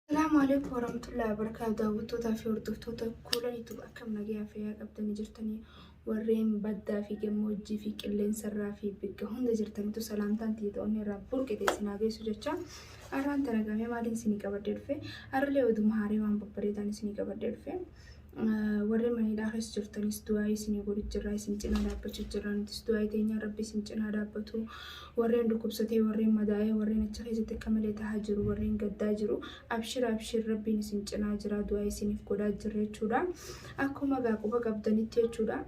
Salaamu alaikum warahmatullahi wabarakatuh daawwattootaa fi hordoftoota kuula YouTube akkam nagayaa fayyaa qabdanii jirtanii warreen baddaa fi gammoojjii fi qilleensarraa fi bikka hunda jirtanitu salaamtaan tiitoonni irraa burqe teessinaa geessu jecha har'aan tanagamee maaliin isinii qabadhee dhufe har'alee oduma haarii waan babbareedaan isinii qabadhee dhufe Warri mana hidhaa keessa jirtanis du'aa isinii godhu jirra isin cinaa dhaabbachuu jirra nutis du'aa teenyaa rabbi isin cinaa dhaabbatu warreen dhukkubsatee warreen madaa'ee warreen achi keessatti akka malee tahaa jiru warreen gaddaa jiru abshir abshir rabbiin isin cinaa jira du'aa isiniif godhaa jirra jechuudha akkuma gaa quba qabdanitti jechuudha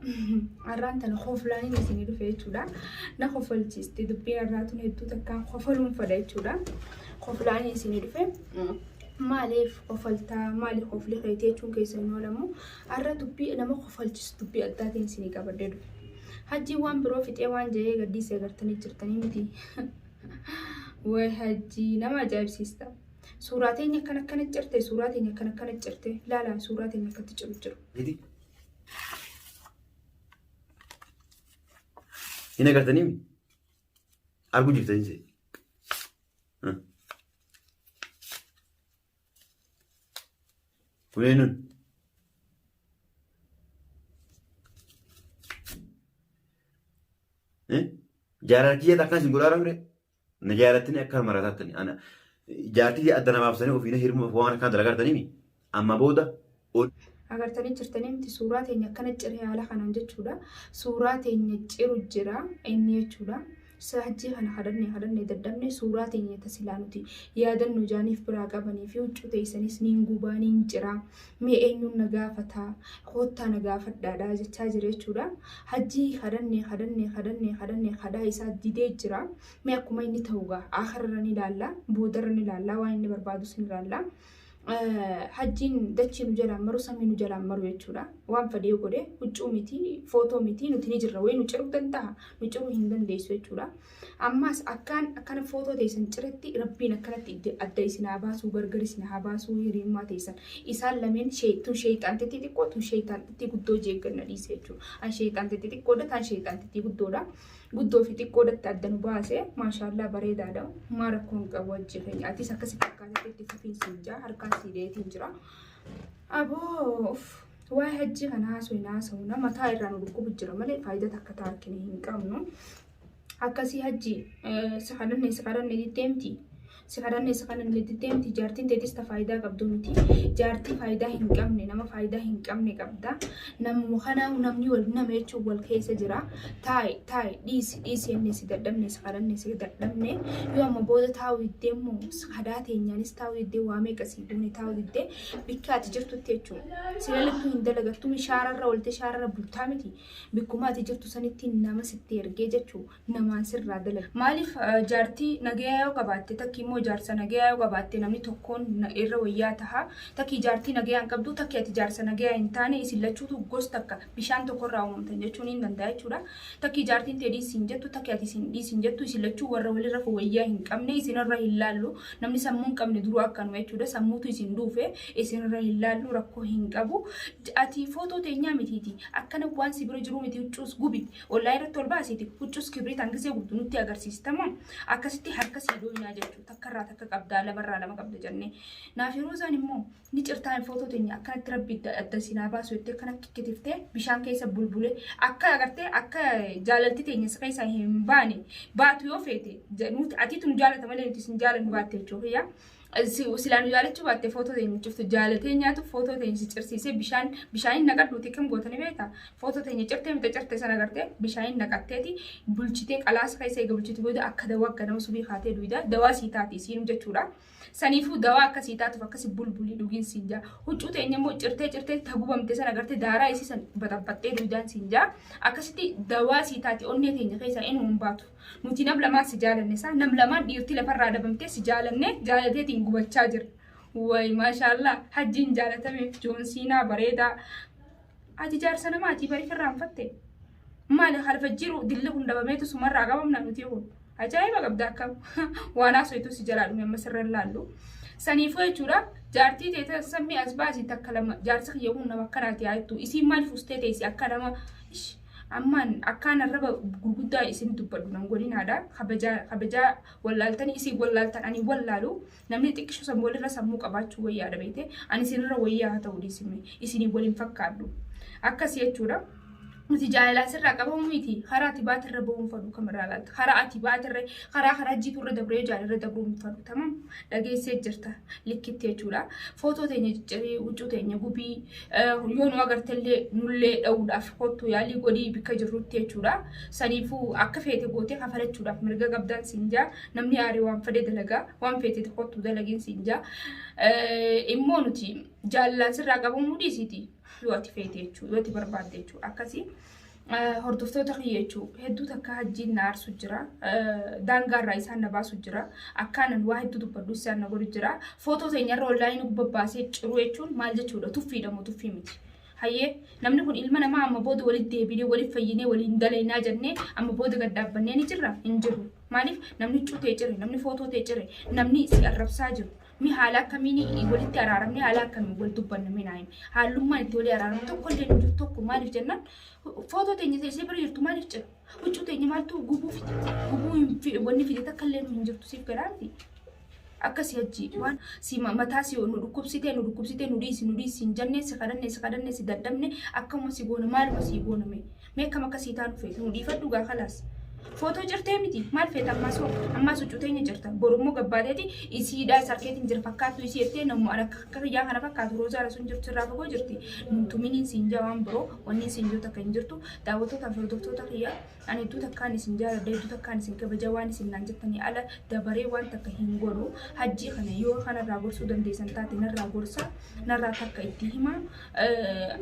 arraan tana koflaaniin isinii dhufe jechuudha na kofalchiisti dubbiin arraatun hedduu takkaan kofaluun fadha jechuudha koflaaniin isinii dhufe Maaliif kofaltaa maali kofli keeti jechuun keessan hin oolamu. Arra dubbii nama kofalchisu dubbii addaatiin isinii qabadhee dhufe. Hajjiin waan biroo fixee waan ja'ee gaddiisee agartanii jirtanii miti. Way hajjii nama ajaa'ibsiista. Suuraa teenya akkan akkana cirte suuraa teenya akkan akkana cirte laala suuraa teenya akkatti ciru jiru. Gidi. Hin agartanii mi? Arguu jirtanii see. Kuleenu. Jaalala kiyyaatti akkan isin godhaa ture. Na jaalatanii akka maratattani. Jaartii adda namaaf sanii ofiina hirma waan akkaan dalagaa jirtanii Amma booda ol. Agartanii jirtanii miti suuraa teenya akkana ciree haala kanaan jechuudha. Suuraa teenya ciru jira inni jechuudha. Saajjii kana kadhannee kadhannee dadhabne suuraa teenya tasilaa nuti yaadannu jaaniif biraa qabanii fi huccuu teessanis niin gubaa niin ciraa mee eenyuun na gaafataa koottaa na gaafadhaadhaa jechaa jira jechuudha. Hajjii kadhannee kadhannee kadhannee kadhannee kadhaa isaa didee jira. Mee akkuma inni ta'u gaa akharra ni ilaalla boodarra ni ilaalla waan inni barbaadus ni ilaalla. hajjiin dachii nu jalaan maru samii nu jalaan maru jechuudha. Waan fadee godhe huccuu miti footoo miti nuti ni jirra wayii nu ciruu danda'a nu ciruu hin dandeessu jechuudha. Ammaas akkaan akkana footoo teessan ciretti rabbiin akkanatti idda- adda isin haa baasuu gargar isin haa baasuu hiriyummaa teessan. Isaan lameen shee- tun sheeyxaan xixiqqoo tun sheeyxaan xixiqqoo guddoo jeegganna dhiise jechuudha. An sheeyxaan xixiqqoodha taan sheeyxaan xixiqqoo guddoodha. guddoo fi xiqqoodatti adda nu baase maashaallaa bareedaadha maa rakkoo hin qabu wajjii keenya atis akkasi fakkaatatti itti fufiinsi hin jira harkaa sii deetiin jira aboof waa hajjii kana haasoo hin haasawna mataa irraa nu dhukkubu jira malee faayidaa takka taakkine hin qabnu akkasii hajjii si kadhanne si kadhanne deemti Si kadhanne si kadhanne jettee miti jaartiin teetis ta faayidaa qabdu miti. Jaartii faayidaa hin qabne nama faayidaa hin qabne qabda. Namuma kana namni wal nama jechuun wal keessa jira. Taa'i taa'i dhiisi dhiisi jennee si dadhabne si kadhanne si dadhabne. Yoo amma booda taa'u diddee immoo kadaa teenyaanis taa'u diddee waa meeqa si duune taa'u diddee bikka ati jirtutti jechuudha. Si lalittuu hin dalagattuu shaararra ooltee shaararra bultaa miti. Bikkuma ati jirtu sanitti nama sitti ergee jechuudha. namaan sirraa dalage. Maaliif jaartii nagayaa yoo qabaatte takki immoo jaarsa nagayaa yoo qabaatte namni tokkoon irra wayyaa taha. Takki jaartii nagayaa hin qabdu takki ati jaarsa nagayaa hin taane isin lachuutu gos takka bishaan tokkorraa uumamtan jechuun hin danda'a jechuudha. Takki jaartiin tee dhiisi hin jettu takki ati isin dhiisi hin jettu isin lachuu warra walirra wayyaa hin qabne isinirra hin laallu namni sammuu hin qabne duruu akkanuma jechuudha sammuutu isin duufe isinirra hin laallu rakkoo hin qabu. Ati footoo teenyaa mitiiti akkana waan si bira jiruu miti huccuus gubi Ollaa irratti ol baasiiti huccus kibriit hangizee gubdu nutti agarsiistama akkasitti harka sii dooynaa jechuu takkarraa takka qabdaa lamarraa lama qabda jannee naafi roozaan immoo ni cirtaa hin footoo teenya akkanatti rabbi adda sinaa baasu jettee kan akka kitiftee bishaan keessa bulbulee akka agartee akka jaalalti teenya si keessa hin baane baatu yoo feete nuti atiitu nu jaalata malee nuti sin jaalannu baatte jechuu kiyyaa silaa nu jaalachuu baatte footoo teenya cirtu jaalatee nyaatuuf footoo teenya si cirsiisee bishaan bishaaniin naqadhu xiqqim gootanii beekta footoo teenya cirtee mita cirtee sana gartee bishaaniin naqatteeti bulchitee qalaasa keessa eega bulchitu booda akka dawaa akka nama subii kaatee duwida dawaa sii taati siin jechuudha saniifuu dawaa akka sii taatuuf akkasi bulbulii dhugiin siin jaa huccuu teenya immoo cirtee cirtee tagubamte sana gartee daaraa isii san baxabaxxee duwidaan siin jaa akkasitti dawaa sii taati onnee teenya keessaa inni hin baatu Nuti nam lamaan si jaalanne saa nam lamaan dhiirtii lafarraa dhabamtee si jaalannee jaalateetiin gubachaa jirra. Way maashaallah hajjiin jaalatame joonsiinaa bareedaa. Ati jaarsa namaati bari firraanfatte. Maali halfa jiru dilli kun dabameetu sumarraa qabamna nuti kun. Ajaa'iba qabda akkam waan haasoytuu si jalaa dhume amma sirra hin laallu. Saniifuu jechuudha jaartii teetan sammii as baasii takka lama jaarsa kiyya kun nama akkanaati haa jettu isiin maaliif ustee teessi akka nama ish Ammaan akkaan arraba gurguddaa isin dubbadhu nan godhinaadha. Kabajaa, kabajaa wallaaltanii isin wallaaltan ani wallaalu. Namni xiqqisho san walirra sammuu qabaachuu wayyaadha beekte. Ani isinirra wayyaa haa ta'u dhiisime. Isinii wal hin fakkaadhu. Akkas jechuudha. Nuti jaalalaa sirraa qabamu miti. Karaa ati baate irra ba'uun fadhu kam irraa laalta. Karaa ati baate irra, karaa karaa jiitu irra dabree jaal irra dabruun fadhu. Tamam dhageessee jirta likkitti jechuudha. Footoo teenya ciccirii, huccuu teenya gubii, yoo nu agartellee nullee dha'uudhaaf kottu yaalii godhii bikka jirrutti jechuudha. Saniifuu akka feete gootee kafalachuudhaaf mirga qabdaan siin jaa namni aaree waan fedhe dalagaa waan feete kottu dalagiin siin jaa immoo nuti jaallaan sirraa qabamuu dhiisiti yoo ati feete jechuudha yoo ati barbaadde jechuudha akkasii. hordoftoota kiyya jechuun hedduu takka hajjiin na aarsu jira. Daangaarraa isaan na baasu jira. Akkaanan waa hedduu dubbadhu isaan na godhu jira. Footoo teenyarra onlaayinii gubba baasee ciruu jechuun maal jechuudha? Tuffiidha moo tuffii miti? Hayyee namni kun ilma namaa amma booda walitti deebinee waliif fayyinee waliin dalaynaa jennee amma booda gad dhaabbannee ni jirra hin jiru. Maaliif namni cutee cire namni footoo tee cire namni si arrabsaa jiru Mi haala akkamiin walitti araaramne haala akkamiin wal dubbanna mi naayim haalummaan itti walii araaramu tokko illee nuti tokko maaliif jennaan footoo teenya teessee bira jirtu maaliif jira huccuu teenya maaltu gubuu fide gubuu hin fi- wanni fide takka illee nu hin jirtu siif garaa miti akka si hajji waan si ma- mataa si nu dhukkubsitee nu dhukkubsitee nu dhiisi nu dhiisi hin jennee si kadhanne si kadhanne si dadhabne akkuma si goona maaluma si goona mee Mee akkam akka sii taanu feeta nu dhiifadhu gaa kalaas. Footoo cirtee miti maal feeta ammaas hoo ammaas huccuu teenya cirta borummoo gabbaateeti isiidhaa isa harkeetiin jira fakkaattu isii jettee nammoo an akka akka kiyyaa kana fakkaatu roozaa rasuun jirtu irraa fagoo jirti nutuminiin siin jaa waan biroo wanniin siin jiru takka hin jirtu daawwattoota fi hordoftoota kiyyaa ani hedduu takkaan isin jaaladha hedduu takkaan isin kabaja waan isin naan jettanii ala dabaree waan takka hin godhu hajjii kana yoo kanarraa gorsuu dandeessan taate narraa gorsa narraa takka itti himaa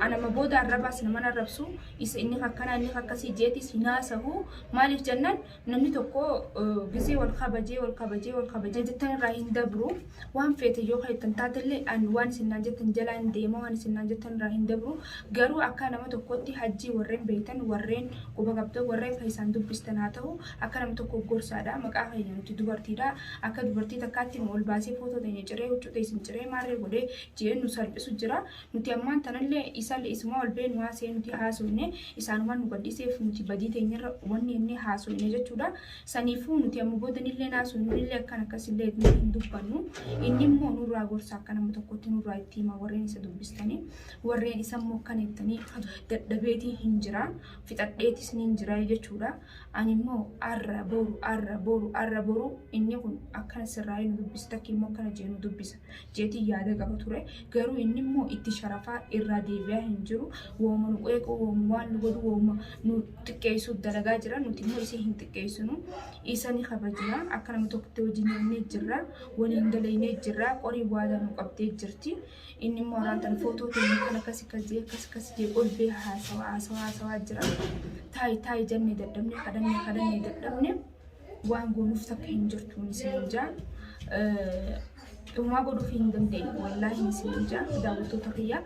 anama booda arrabaas naman arrabsu isa inni akkana inni akkasii jeetis hin haasahu maaliif jennaan namni tokko gizee wal kabajee wal kabajee wal kabajee jettan irraa hin dabru waan feete yoo keessan taatellee an waan isinnaan jettan jalaa hin deema waan isinnaan jettan irraa hin dabru garuu akka nama tokkotti hajjii warreen beektan warreen quba qabdan warreen keessaan dubbistan haa ta'u akka nama tokko gorsaadha maqaa keenya nuti dubartiidha akka dubartii takkaatti nu ol baasee footoo teenya ciree huccuu teessin ciree maarree godhee jee nu salphisu jira nuti ammaan tanalle isalle isuma ol beenu haasee nuti haasoyne isaanuman nu gadhiseef nuti badii teenyarra wanni enne haasoyne jechuudha saniifuu nuti amma boodanillee haasoynullee akkan akkasillee nuti hin dubbannu inni immoo nurraa gorsa akka nama tokkotti nurraa itti hima warreen isa dubbistanii warreen isa immoo akkan jettanii dadhabeetii hin jira fixadheetis niin jira jechuudha ani immoo arra boru arra boru arra boru inni kun akkana sirraa hin dubbisa takki immoo akkana jee nu dubbisa jeetiin yaada qaba ture. Garuu inni immoo itti sharafaa irraa deebi'aa hin jiru. Wooma nu qeequu, wooma waan nu godhu, wooma nu xiqqeessuuf dalagaa jira. Nuti immoo isa hin xiqqeessinu. Isa ni kabajna. Akka nama tokkotti wajjin nyaannee jirra. Waliin dalaynee jirra. Qorii waadaa nu qabdee jirti. Inni immoo araan tan footoo keenya kan akkas akkas jee akkas akkas jee ol bee haasawaa haasawaa haasawaa jira. Taayi taayi jennee dadhabne kadhannee kadhannee dadhabne. waan goonuuf takka hin jirtuun isiniin jaa. Dhumaa godhuuf hin dandeenye wallaahi isiniin jaa daawwattoota kiyya.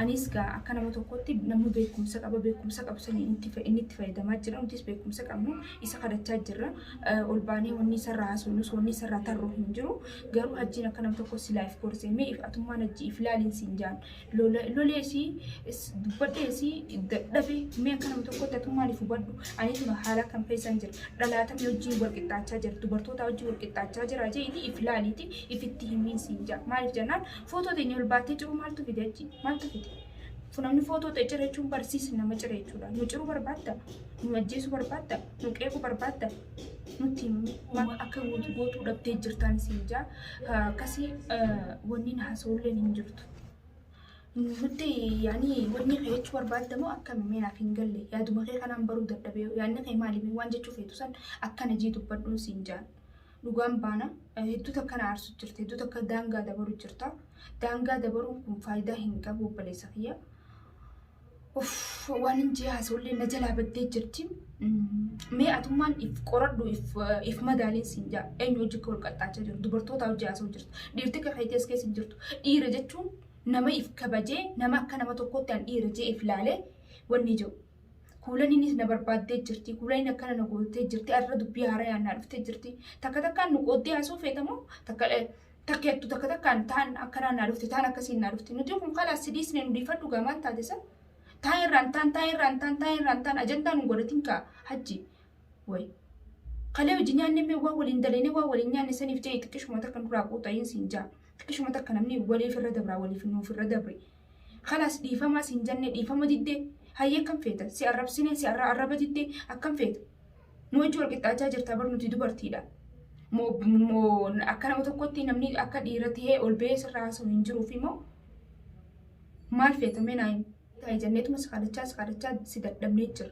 Anis gaa akka nama tokkotti namni beekumsa qaba beekumsa qabu sanii inni itti fayyadamaa jira nutis beekumsa qabnu isa kadhachaa jirra. Ol baanee wanni isarraa haasofnus wanni isarraa tarru hin jiru. Garuu hajjiin akka nama tokko si laayif koorsee mee if atummaan hajjii if laaliin siin jaan. loleesii dubbadheesii dadhabe mee akka nama tokkotti atuu maaliif hubadhu ani tuma haala kan keessan jira dhalaatamni wajjin wal qixxaachaa jira dubartoota wajjin wal qixxaachaa jira jeeti if laaliiti ifitti himiin siin jaa maaliif jennaan footoo teenya ol baattee jiru maaltu fide achi maaltu fide funamni footoo ta'e jira jechuun barsiisa nama jira jechuudha nu jiru barbaadda nu ajjeesu barbaadda nu qeequ barbaadda nutti himuu akka gootuu dhabdee jirtaan siin jaa akkasii wanniin haasa'ulleen hin jirtu. Nuti yaani wanni kee jechuu barbaadda moo akkami mee naaf hin galle yaaduma kee kanaan baruu dadhabee yaanni kee maali mee waan jechuu feetu san akkana jii dubbadhuun siin jaan dhugaan baana hedduu takka na aarsu jirta hedduu takka daangaa dabaru jirta daangaa dabaruun kun faayidaa hin qabu obboleessa kiyya Uff, waan hin jee haasawullee na jalaa baddee jirti. Mee atummaan if qoradhu if, if madaaliin siin jaa. Eenyu hojii kee ol qaxxaachaa jiru. Dubartoota hojii haasawu jirtu. Dhiirti akka keetii as keessa hin jirtu. Dhiira jechuun nama if kabajee, nama akka nama tokkootti an dhiira jee if laalee wanni jiru. Kuulaniinis na barbaaddee jirti. Kuulaniin akkana na gootee jirti. Arra dubbii haarayaan naa dhuftee jirti. Takka takkaan nu qooddee haasawuu feetamoo takka takkeettu takka takkaan taan akkanaa naa dhufte taan akkasiin naa dhufte nuti kun kalaas sidiisne nu dhiifadhu gaa maal taate san taan irraan taan taan irraan taan taan irraan taan ajandaa nu godhatin kaa hajji way kalee hojii nyaanne mee waa waliin dalayne waa waliin nyaanne saniif jee xiqqishuma takka nurraa quuxa'iin siin jaa xiqqishuma takka namni waliif irra dabraa waliif nuuf irra dabre Kalaas dhiifamaa siin jannee dhiifama didde hayyee akkam feeta si arrabsinee si arra arraba didde akkam feeta. Nuu wajji wal qixxaachaa jirtaa bar nuti dubartiidha. Moo moo akka nama tokkotti namni akka dhiira ta'ee ol ba'ee sirraa haasa'u hin jiruufi moo maal feeta mee naa himi. Taa'e janneetuma si kadhachaa si kadhachaa si dadhabnee jira.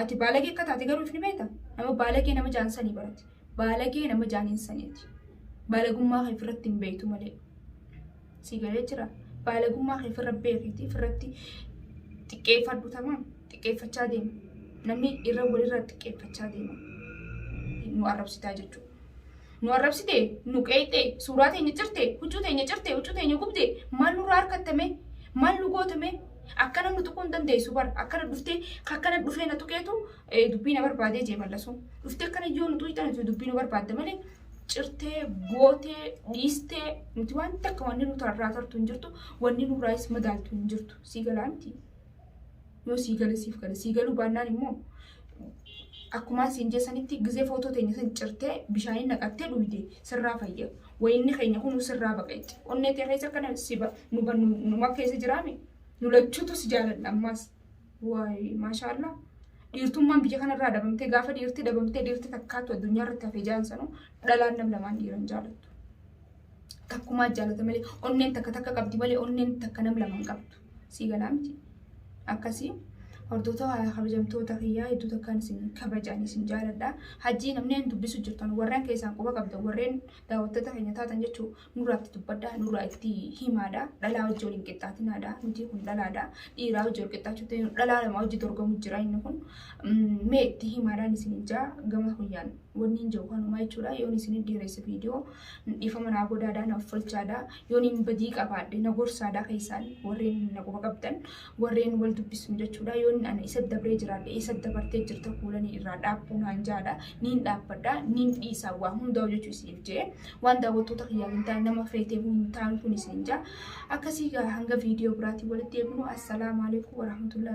Ati baalagee akka taate garuu ifni beekta. Nama baalagee nama jaan sanii barate. Baalagee nama jaaniin saniiti. Baalagummaa kee ofirratti hin beektu malee. Sii galee jira. Baalagummaa kee ofirra beekiiti. Ofirratti xiqqeeffadhu tamaan. Xiqqeeffachaa deema. Namni irra walirra xiqqeeffachaa deema. Nu arrabsitaa jechuudha. Nu arrabsite? Nu qeeqxe? Suuraa teenya cirte? Huccuu teenya cirte? Huccuu teenya gubde? Maal nurraa harkatta mee? Maal nu goote mee? Akkana nu tuquu hin dandeessu bar. Akkana dhuftee akkana dhufee na tuqeetu eh, dubbii na barbaadee jee mallasu. Dhuftee akkana yoo nu tuqxan nuti dubbii nu barbaadde malee cirtee, gootee, dhiistee nuti waan takka wanni nu tarraa tartu hin jirtu, wanni nurraayis madaaltu hin jirtu. Sii galaa miti. Yoo sii gale siif gale sii galuu baannaan immoo akkumaa siin jeessanitti gizee footoo teenya san cirtee bishaanii naqattee dhuyde sirraa fayya. Wayinni keenya kun sirraa baqa jecha. Onnee tee keessa kana si ba nu ba nu nu ma keessa jiraame nu lachuutu si jaalanna ammaas. Waay maashaallah. Dhiirtummaan biyya kanarraa dhabamtee gaafa dhiirti dhabamtee dhiirti takkaatu addunyaa irratti hafee jaan sanuu dhalaan nam lamaan dhiiran jaalattu. Takkumaa jaalata malee onneen takka takka qabdi malee onneen takka nam lamaan qabdu. Sii galaa miti akkasii hordota kabajamtoota kiyyaa hedduu takkaan isin kabajaan isin jaaladha hajjii namneen dubbisu jirtan warreen keessaan quba qabda warreen daawwattota keenya taatan jechuu nurraa itti dubbadha nurraa itti himaadha dhalaa hojii waliin qixxaatinaadha nuti kun dhalaadha dhiiraa hojii wal qixxaachuutti dhalaa lama hojii dorgomu jira inni kun mee itti himaadhaan isin ijaa gama kuyyaan wanniin jedhu kanumaa jechuudha yoon isin dheeresse viidiyoo dhiifama naa godhaadha na uffalchaadha yoon hin badii qabaadhe na gorsaadha keessaan warreen na quba qabdan warreen wal dubbisnu jechuudha yoon ani isa dabree jiraadhe isa dabartee jirta kuulanii irraa dhaabbuu naan jaadha niin dhaabbadha niin dhiisaa waa hundaa hojjechuu isiniif jee waan daawwattoota kiyyaa hin taane nama feetee hin taane kun isin jaa akkasii gaa hanga viidiyoo biraatiin walitti eegnu assalaamu alaikum warahmatullahi